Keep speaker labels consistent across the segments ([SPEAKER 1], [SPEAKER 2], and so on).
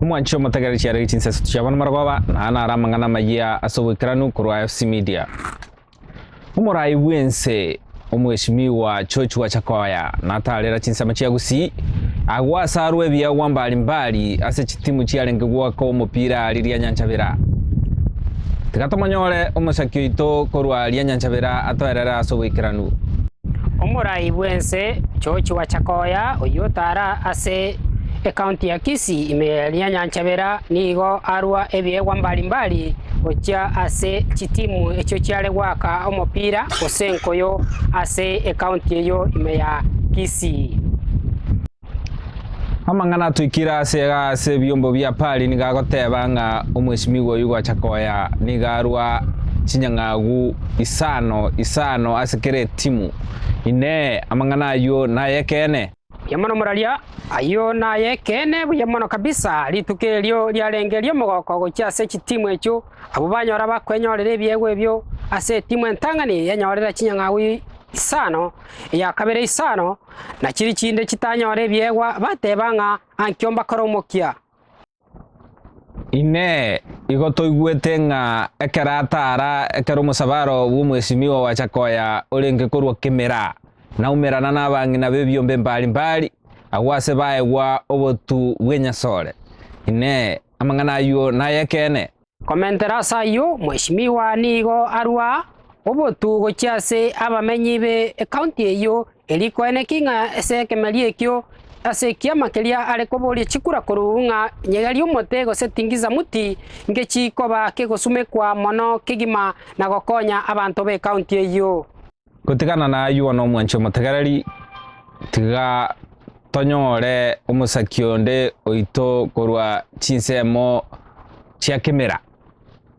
[SPEAKER 1] Omwanche omotegereri chiarenge chinseso chiabo namara goba, na aya naro amang'ana amayia ase oboikeranu korwa FC Media. Omorai bw'ense Omweshimiwa George Wachakoya natarera chinsemo chia Gusii, agwo ase arwo ebiegwa mbari mbari ase chitimu chiarenge gwoka omopira aria Rianyanchabira. Tiga tomonyore omosaki oito korwa Rianyanchabira atoerere ase oboikeranu. Omorai bw'ense George Wachakoya oyio otara ase. Ekaunti ya Kisii ime eria Nyanchabera nigo arua ebiegwa mbari mbari gochia ase chitimu echio chiare goaka omopira gose enkoyo ase ekaunti eyio ime ya Kisii. Amang'ana atwikire ase iga ase ebiombo bia Pari nigo agoteba ng'a omwesimigwa oyio gwacha koya nigo arua chinyang'agu isano isano ase kera etimu. Inee! Amang'ana ayio nay'ekeene? Buya mono moraria, ayio nay'ekeene buya mono kabisa. Rituko erio riarenge ri'omogoko gochia ase chitimu echio, abwo banyora bakwenyorera ebiegwa ebio ase etimu entang'ani yenyorera chinyang'au isano, eya kabere isano, na chiria chinde chitanyora ebiegwa bateba ng'a anki ombakore omokia. Inee! Igo toigwete ng'a ekero ataara ekero omosabaro bw'omwesimigwa gwachaka koya orenge korwa kemera, naumerana nabang'ina b'ebiombe mbari mbari, agwo aase baegwa obotu bw'enyasore? Inee! Amang'ana ayio nay'ekeene? Komentera ase ayio, mweshimiwa nigo arua obotugo chi'ase abamenyi be ekaunti eyio, erio koeneki ng'a ase ekemeeri ekio ase ekiama keria are koboria chikura koruu ng'a nyegeri omote gose tingiza muti ngechikoba kegosumekwa mono kegima na gokonya abanto b'ekaunti eyio. Gotigana naywo nomwanchi omotegereri, tiga tonyore omosaki onde oito korwa chinsemo chia kemera,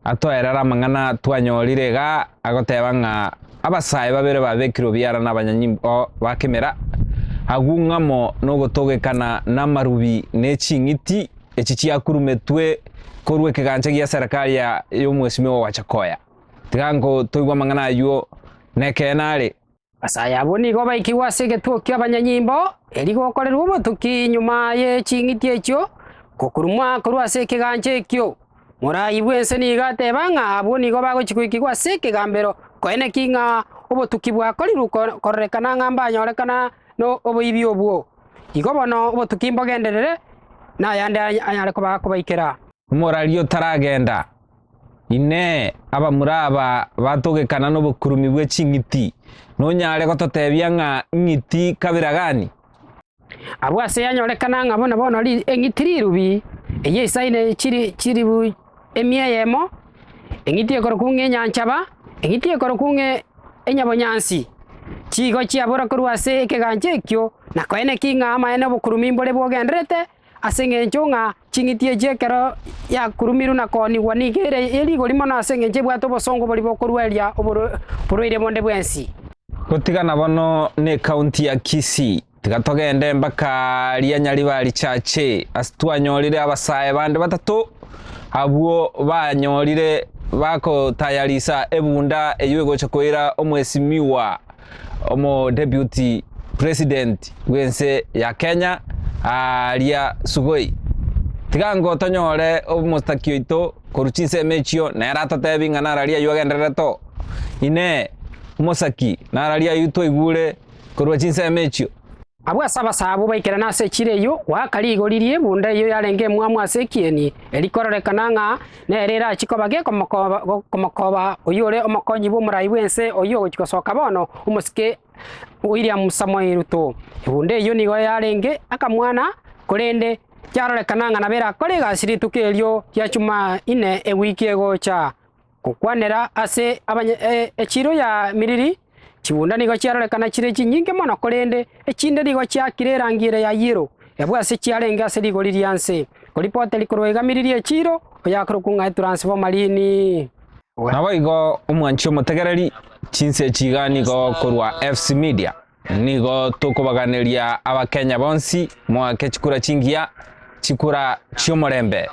[SPEAKER 1] atoerere amang'ana twanyorire iga agoteba ng'a abasae babere babekirwe obiara nabanyonyi oo ba kemera, agwo ng'amo nogotogekana namarubi ne ching'iti echi chiakurumetwe korwa ekegancha gia serikali ya omwesimi ogoacha koya. Tiga nkotoigwe amang'ana ayio, nekeene are. Ase ay'abwo nigo baikigwe ase egetuo ki'abanyanyimbo, erio gokorerwe obotuki nyuma ye ching'iti echio, gokurumwa korwa ase ekegancha ekio. Morai bw'ense nigo ateba ng'a abwo nigo bagochia goikigwa ase ekegambero, nkoine ki ng'a obotuki bwakorirwe kororekana ng'a mbanyorekana n'oboibi obwo? Igo bono obotuki mbogenderere, nayande anyare kobaikera. Omorari otaragenda. Inee! Abamura aba batogekana nobokurumi bwe ching'iti, nonyare gototebia ng'a ing'iti kabira gani? Abwo ase yanyorekana ng'a buna bono eng'iti rirubi, eyio isaine chiri chiribu emia eyemo, eng'iti ekorokwa ng'a enyanchaba, eng'iti ekorokwa ng'a enyabonyansi, chigo chiabora korwa ase ekegancha ekio, na koeneki ng'a amaene obokurumi mbore bogendererete, Ase engencho ng'a ching'iti echi ekero yakurumirwe na koonigwa nigo ere rigori mono ase engencho ebwate obosongo boria bokorua eria oborwaire bonde bwensi. Gotigana bono necounty ya Kisii, tiga togende mpaka ria Nyaribari Church ase twanyorire abasae bande batato abwo banyorire bagotayarisa ebunda eyio egocha koira omwesimiwa. Omo Deputy President bw'ense ya Kenya aaria Sugoi, Tiga ngo tonyore omostaki oito korwa chinsemo echio nere atotebi ng'a nararia ayio agendererete oo. Inee! Omosaki nararia ayio twaigure korwa chinsemo echio? Abwo ase abasaabu baikerane ase echiro eyio goaka rigori rie bunda eyio yarenge emwamu ase ekieni, erikororekana ng'a nere erachie koba gekomokoba komokoba oyore omokonyi bw'omorai bw'ense oyio ogochia gosoka bono, omosike William Samoei Ruto. Ebunda eyio nigo yarenge akamwana korende kiarorekana ng'a nabo erakore egasi rituko erio ria Jumaine ewiki egocha. Gokwanera ase abanya echiiro ya miriri, chigunda nigo chiarorekana chire chinyinge mono korende echinde nigo chiakire erangi ere ya yellow, ebwe ase chiarenge ase rigori ria nse, koripoteri korwa iga miriri echiiro, oyakorokwa ng'a etransformarini. Naboigo omwanchi omotegereri, chinsa echi iga nigo korwa FC Media. Nigo tokobaganeria abakenya bonsi moake chikura chingiya, chikura chi'omorembe.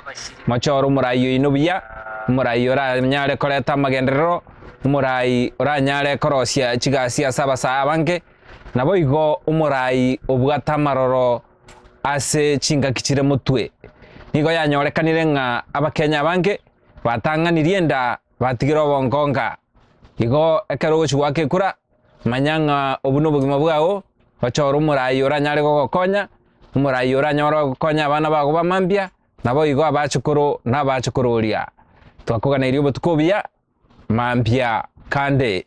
[SPEAKER 1] Mochore omorai oino buya, omorai oranyare koreta amagenderero, omorai oranyare korosia chigasi ase abasae abange, naboigo omorai obwate amaroro ase chingaki chire motwe. Nigo yanyorekanire ng'a abakenya abange batang'anirie enda batigire obongonga. Igo ekero ogochi goaka ekura. Manya ng'a obwo nobogima bwao, ochore omoraai oranyare gogokonya, omoraai oranyore gokonya abana bago ba mambia, naboigo abachukuru na abachukuru oria. Twakoganeirie obotuko obuya, mambia kande.